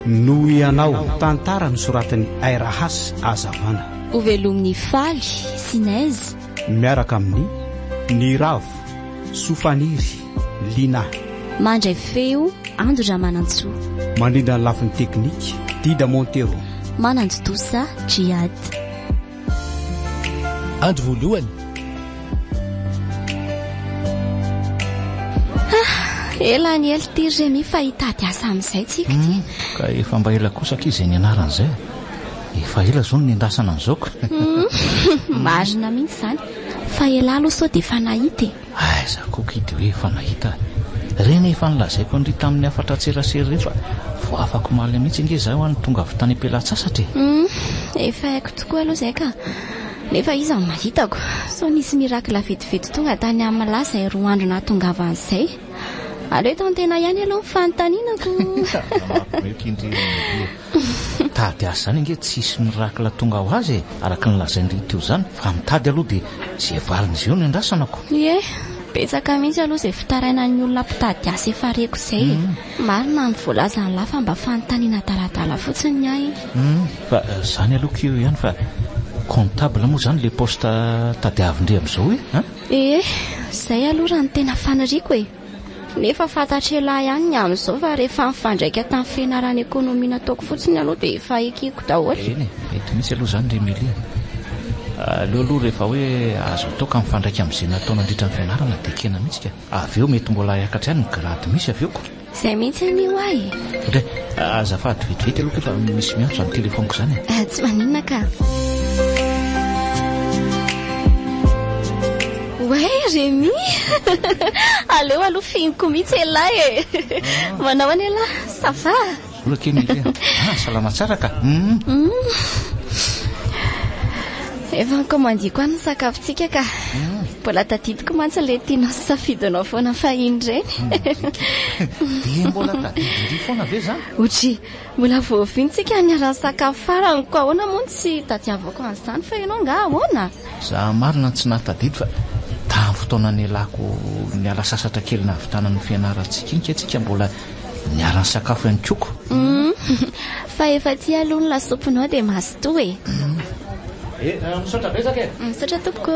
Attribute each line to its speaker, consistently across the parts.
Speaker 1: Noho ianao. Tantara nosoratan'i Aira Has Azavana. Ho velomin'ny
Speaker 2: faly sy neige. Miaraka amin'i.
Speaker 1: Niravo, Sofaniry, Lina. Mandray
Speaker 2: feo, Ando Ramanantsoa. Mandrindra ny
Speaker 1: lafiny teknika, Dida Montero. Manantontosa,
Speaker 2: Djihad.
Speaker 3: Andro voalohany.
Speaker 2: Ela any ely ty Remy fa hitady asa amin'izay tsika ty. Hmm, ka efa mba ela
Speaker 4: kosa aky izay nianarana izay. Efa ela izao no nendasana an'izao ka. Hmm,
Speaker 2: marina mihitsy izany. Fa ela aloha sao dia efa nahita e. Aiza ko
Speaker 4: kidy hoe efa nahita a! Reny efa nolazaiko an'ry tamin'ny hafatra an-tserasera ireny fa vao afak'omaly mihitsy ange izaho no tonga avy tany am-pelatsasatra e! Hum, efa
Speaker 2: haiko tokoa aloha izay ka! Nefa iza no mahitako? Sao nisy miracle vetivety tonga tany amla izay roa andro nahatongavany izay? Aleo eto an-tena ihany aloha ny fanontanianako! Aza mampiomehy kindry ry Maria e!
Speaker 4: Mitady azy izany ange tsy hisy miracle tonga ho azy e, araka ny lazain'i Ry Teo izany, fa mitady aloha dia izay valin'izay eo no iandrasanako. Ie,
Speaker 2: betsaka mihitsy aloha izay fitarainan'ny olona mpitady asa efa reko izay e. Marina ny voalazan'lah fa mba fanontaniana adaladala fotsiny ny ahy. Humm, fa
Speaker 4: izany aloha ko eo ihany fa comptable moa izany ilay poste tadiavin-dry amin'izao e, an? Ee,
Speaker 2: izay aloha raha ny tena faniriako e. Nefa fantatr'elah ihany ny amin'izao fa rehefa mifandraika tamin'ny fianaran'ny ekonomia nataoko fotsiny aloha dia efa ekeko daholo. Eny e, mety mihitsy aloha
Speaker 4: izany ry Mily a! Aleo aloha rehefa hoe azo toaka mifandraika amin'izay natao nandritra ny fianarana dia ekena mihitsy ka avy eo mety mbola hiakatra ihany ny grade misy avy eo ka! Izay mihitsy anie ho
Speaker 2: ahy e! Indray,
Speaker 4: azafady vetivety aloha kay fa misy miantso izany telefaoniko izany e! Tsy maninona ka!
Speaker 2: Oay Remy! Aleo aloha fihiniko mihitsy elah e! Manao ahoana elah? Ça va? Vola kely Milia.
Speaker 4: Ah, salama tsara ka.
Speaker 2: Efa nikomandiako any ny sakafontsika ka. Mbola tadidiko mantsy ilay tianao sy safidinao foana fahiny ireny.
Speaker 4: Dia mbola tadidin'ity foana ve izany? Otry, Mbola
Speaker 2: voavintsika ny ranon-tsakafo farany koa ahoana moa no tsy hitadiavako an'izany fa ianao angaha ahoana? Za marina
Speaker 4: tsy nahatadidy fa tamin'ny fotoana nialako niala sasatra kely nahavitana ny fianarantsika iny kay tsika mbola niara-nisakafo ihany koa ko. Hum,
Speaker 2: fa efa tia aloha ny lasopinao dia mazotoa e.
Speaker 4: Misaotra betsaka e. Misaotra tompoko.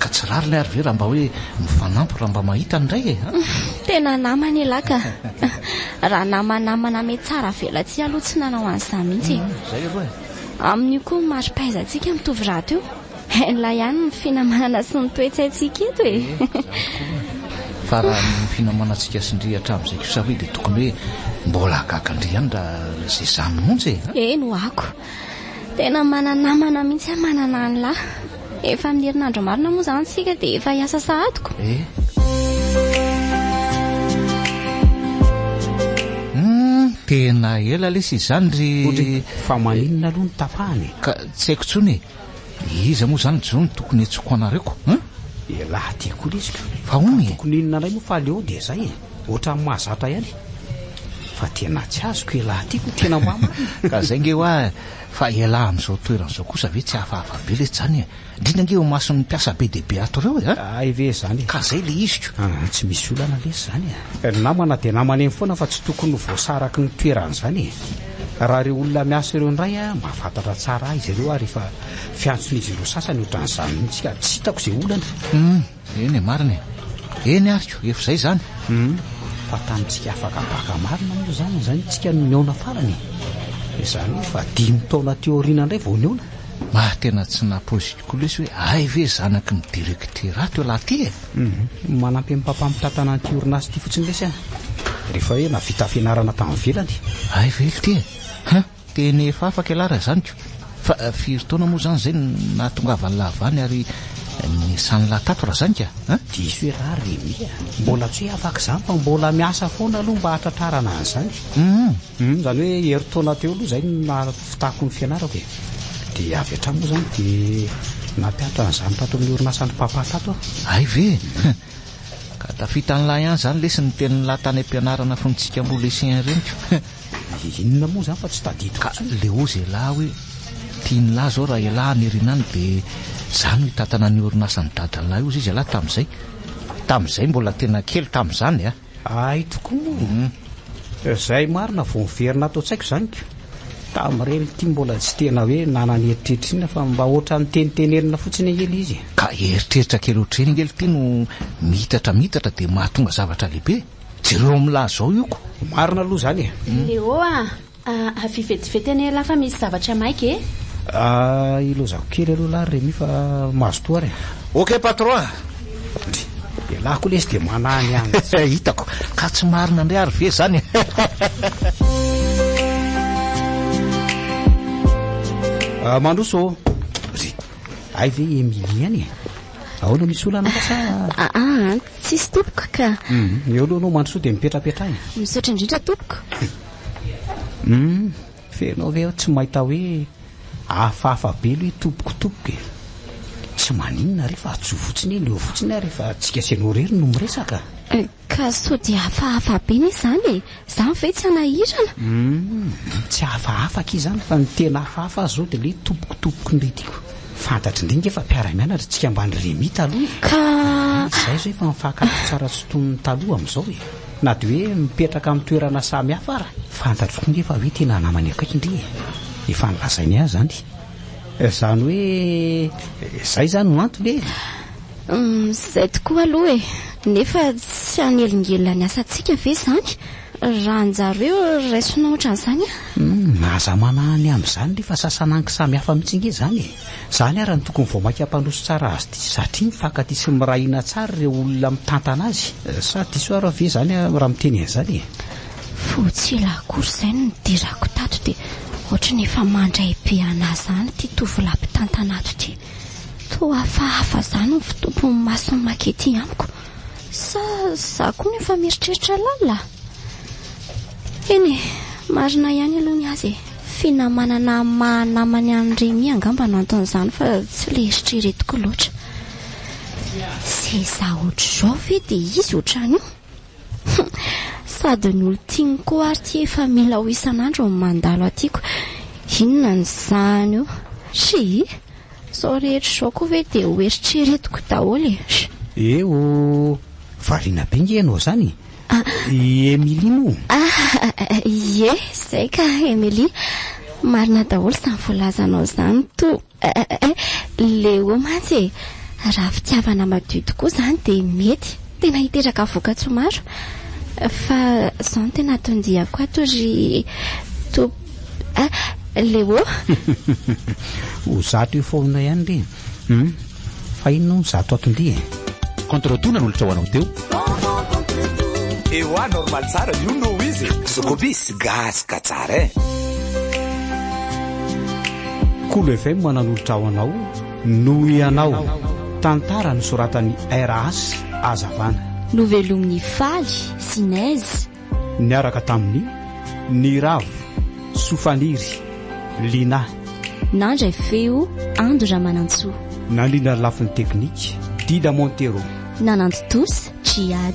Speaker 4: Ka tsy rariny ary ve raha mba hoe mifanampy raha mba mahita indray e? Tena namana
Speaker 2: elah ka. Raha namanamana me tsara velatsihy aloha tsy nanao an'izany mihitsy e. Izay aloha e.
Speaker 4: Amin'io koa ny
Speaker 2: mari-pahaizantsika mitovy rahateo. Henla ihany ny finamanana sy ny toe-tsaintsika eto e.
Speaker 4: Fa raha ny finamanantsika sy ndry hatramin'izay kosa ve dia tokony hoe mbola hahagaga ndry ihany raha izay izany mihitsy e. Eny ho'ako.
Speaker 2: Tena mananamana mihitsy aho manana an'lah. Efa amin'ny herinandro marina moa izany isika dia efa hiasa sahadiko. Hum,
Speaker 4: tena ela lesy izany ry... Fa maninona
Speaker 1: aloha no tapahana e? Ka tsy haiko intsony
Speaker 4: e. Iza moa izany Joe no tokony hentsoako anareo ko? Hum? Elah
Speaker 1: ty koa lesy ka. Fa hono e. Tokony inona
Speaker 4: indray moa fa
Speaker 1: aleo dia izay e. Ohatran'ny mahazatra ihany. Fa tena tsy azoko elah ty ko tena hoa marina. Ka izay nge hoa.
Speaker 4: Fa ialahy amin'izao toerana izao kosa ve tsy hafahafa be letsy zany e? Indrindra ange eo imason'ny mpiasa be dia be ato ireo e a! Hay ve izany e! Ka
Speaker 1: zay le iziko.
Speaker 4: Aa tsy misy olana
Speaker 1: lesy zany e! Ny namana dia namana eny foana fa tsy tokony ho voasaraky ny toerany zany e! Raha ireo olona miasa ireo indray a, mahafantatra tsara ahy izy ireo ary efa fiantson'izy ireo sasany otran'izany mihitsy ka tsy hitako izay olana e! Eny e,
Speaker 4: marina e. Eny ary ko, efa izay izany. Humm, fa
Speaker 1: tany tsy afaka baka marina moa izany izay ny tsika no nihaona farany e. Izany hoe efa dimy taona teo aoriana indray vao nihaona. Maha tena tsy
Speaker 4: napoiziko koa lesy hoe hay ve zanaky ny directeur ato ialahy ity e. Humm, manampy amin'ny
Speaker 1: mpampamitatana an'ity orinasa ity fotsiny lesy an. Rehefa hoe navita fianarana tany ivelany. Hay ve ily ity e.
Speaker 4: Huh. Tena efa afaka ialahy raha izany ko! Fa firy taona moa izany izay no nahatongavan'ilahy Vany ary niasan'ilahy Tato raha izany ka a! Diso ialahy
Speaker 1: ry Mimi a! Mbola tsy hoe afaka izany fa mbola miasa foana aloha mba hahatratrarana an'izany. Humm! Izany hoe herintaona teo aloha izay no nahavitako ny fianarako e! Dia avy hatrany moa izany dia nampihatra an'izany tato amin'ny orinasan'i Papa tato aho. Hay ve!
Speaker 4: Ka tafitan'ilahy ihany izany lesy ny tenin'ilahy tany am-pianarana fony tsika mbola lycéen ireny ko! Inona
Speaker 1: moa zany fa tsy tadidiko Ka intsony. leo zay lahy
Speaker 4: hoe tiany lahy zao raha elah any rinany de za no hitantana ny orinasan'i dadanlah io zay izy elah tamzay tamzay mbola tena kely tamzany a. Hay tokoa
Speaker 1: moa. Zay marina vao niverina ato an-tsaiko zany ko. Tamreny ity mbola tsy tena hoe nanana eritreritra inona fa mba ohatran'ny tenitenenina fotsiny ange le izy e. Ka eritreritra
Speaker 4: kely ohatr'ireny ange le ity no miitatra miitatra de mahatonga zavatra lehibe. Jereo amin'ny lahy zao io ko. Marina aloha zany e.
Speaker 1: Léo
Speaker 3: a! Avia vetivety anie lahy fa misy zavatra maika e! Ah,
Speaker 1: ilozako kely aloha lahy ry Remy fa mazotoa ary a! Ok patron a!
Speaker 4: Dry!
Speaker 1: Ialahy koa lesy dia manahy ny an. Hitako! Ka tsy
Speaker 4: marina ndray ary ve zany e!
Speaker 1: Mandroso ô! Dry! Hay ve i Emilie any e! Ahoana misy olana sa? Aa!
Speaker 2: Tsisy tompoko ka. Hum, eo aloha anao
Speaker 1: mandrosoa dia mipetrapetraha e. Misaotra indrindra tompoko.
Speaker 2: Hum,
Speaker 1: fa ianao ve tsy mahita hoe hafahafa be aloha i tompoko tompoko e. Tsy maninona re fa atsoy fotsiny eny eo fotsiny ary fa tsika sy ianao irery no miresaka. Ka sao
Speaker 2: dia hafahafa be ne izany e. Zany ve tsy hanahirana? Humm, tsy
Speaker 1: hafahafa akia zany fa ny tena hafahafa aza zao de le tompoko tompoko indray tiako. Fantatry ndry nge fa mpiara mianatra tsika mbany Remy taloha e! Ka!
Speaker 2: Izay zao efa
Speaker 1: mifankatro tsara tsy toy ny taloha amizao e! Na de hoe mipetraka am toerana samy hafa ara. Fantatro koa nge fa hoe tena namany akaiky ndry e! Efa nolazainy ahy zany. Zany hoe zay zany no antony e! Humm
Speaker 2: izay tokoa aloha e! Nefa tsy hanelingelina ny asantsika ve izany raha anjareo raisina ohatran'izany a? Humm aza
Speaker 1: manahy ny amin'izany le fa sasan'anky samy hafa mihitsy ange izany e! Izany ara no tokony vao maika mpandroso tsara azy ity satria mifankatia sy miray hina tsara ireo olona mitantana azy. Sa diso ara ve izany aho raha miteny an'izany e? Vao tsy
Speaker 2: ela akory izay no nidirako tato dia ohatry ny efa mandray be anah izany ity tovolahy mpitantana ato ity. Toa fa hafa izany ny fitompon'ny mason'i Maki ity amiko. Sa izaho koa no efa mieritreritra lalina? Eny e, marina ihany aloha ny azy e. Finamanana maha namany an'i Remy angamba no anton'izany fa tsy ilay eritreretiko loatra. Seza ohatr'izao ve dia izy ohatran'io? Humm sady ny olon-tiany koa ary ity efa mila ho isan'andro ny mandalo atiko inona ny sahany io shii zao rehetra izao koa ve dia ho eritreretiko daholo e sh. Eh oh!
Speaker 1: Variana be nge ianao zany e! I Emilie moa? Ahh!
Speaker 2: Ie! Zay ka Emilie! Marina daholo zany voalazanao zany toa! Eh eh, Léo mantsy e! Raha fitiavana madio tokoa izany dia mety tena hiteraka vokatsoa maro. Fa izao no tena atondiako ato ry Top. Eh, Léo.
Speaker 1: Ho zato eo foana ihany re. Hum. Fa inona hono zato atom-by e? Contre tout
Speaker 5: nanolotra ho anao teo. Ewa
Speaker 6: normal tsara you know izy e. Zokobis gasy ka tsara eh.
Speaker 1: Kolo FM nanolotra ho anao Noho ianao, tantara nosoratan'i RH Azavana. Novelomin'ny
Speaker 2: faly sy nezy. Niaraka
Speaker 1: tamin'i Niravo, Sofaniry, Lina. Nandray
Speaker 2: feo, Ando Ramanantsoa. Nandrindra ny lafiny
Speaker 1: teknika, Dida Montero. Nanantontosa, Djihad.